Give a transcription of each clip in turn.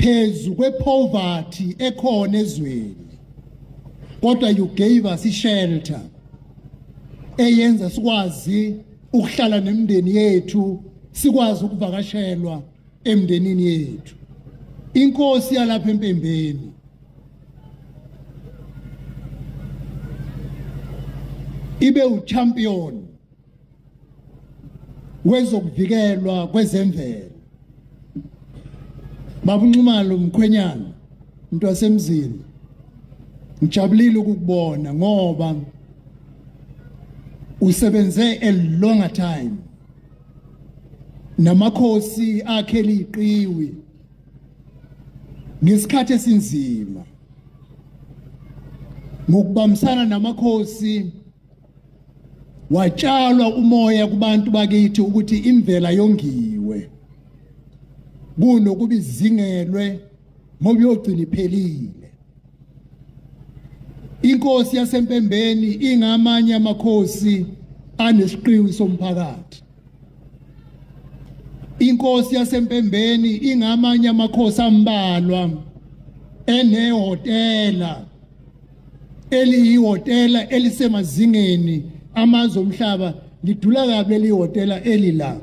phezu kwepoverty ekhona ezweni kodwa you gave us ishelter eyenza sikwazi ukuhlala nemndeni yethu sikwazi ukuvakashelwa emndenini yethu inkosi yalapha empembeni ibe uchampion wezokuvikelwa kwezemvelo babunxumalo mkhwenyana into yasemzini ngijabulile ukukubona ngoba usebenze a longer time namakhosi akhe liqiwi ngesikhathi esinzima ngokubambisana namakhosi watshalwa umoya kubantu bakithi ukuthi imvela yongiwe kunokuba izingelwe ngoba yogcina iphelile inkosi yasempembeni ingamanye amakhosi anesiqiwi somphakathi inkosi yasempembeni ingamanye amakhosi ambalwa enehotela eliyihhotela elisemazingeni amazwe omhlaba lidula kabi leli hhotela eli la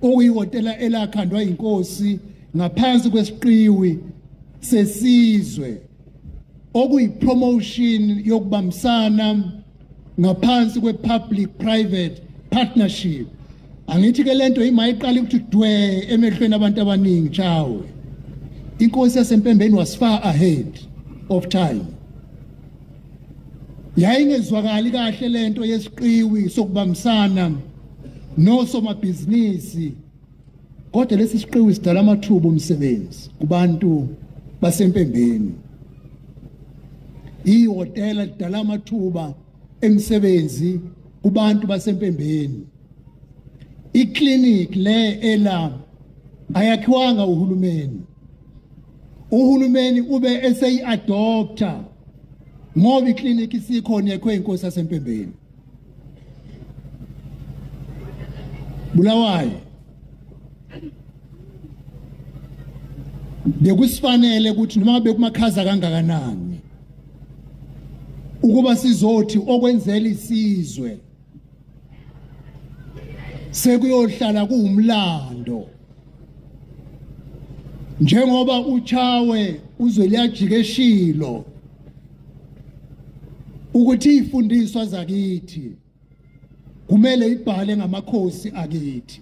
okuyihhotela elakhandwa yinkosi ngaphansi kwesiqiwi sesizwe okuyipromotion yokubambisana ngaphansi kwe-public private partnership angithi ke lento imayiqala ukuthi dwe emehlweni abantu abaningi chawe inkosi yasempembeni was far ahead of time yayingezwakali kahle lento yesiqiwi sokubambisana nosomabhizinisi kodwa lesi siqiwi sidala amathuba omsebenzi kubantu basempembeni ihhotela lidala amathuba emisebenzi kubantu basempembeni iclinic le ela ayakhiwanga uhulumeni uhulumeni ube eseyi-adoptha ngoba iclinic isikhona yekho inkosi yasempembeni bulawayo bekusifanele ukuthi noma bekumakhaza kangakanani ukuba sizothi okwenzela isizwe sekuyohlala kuwumlando njengoba uchawe uzweliyajika eshilo ukuthi ifundiswa zakithi kumele ibhale ngamakhosi akithi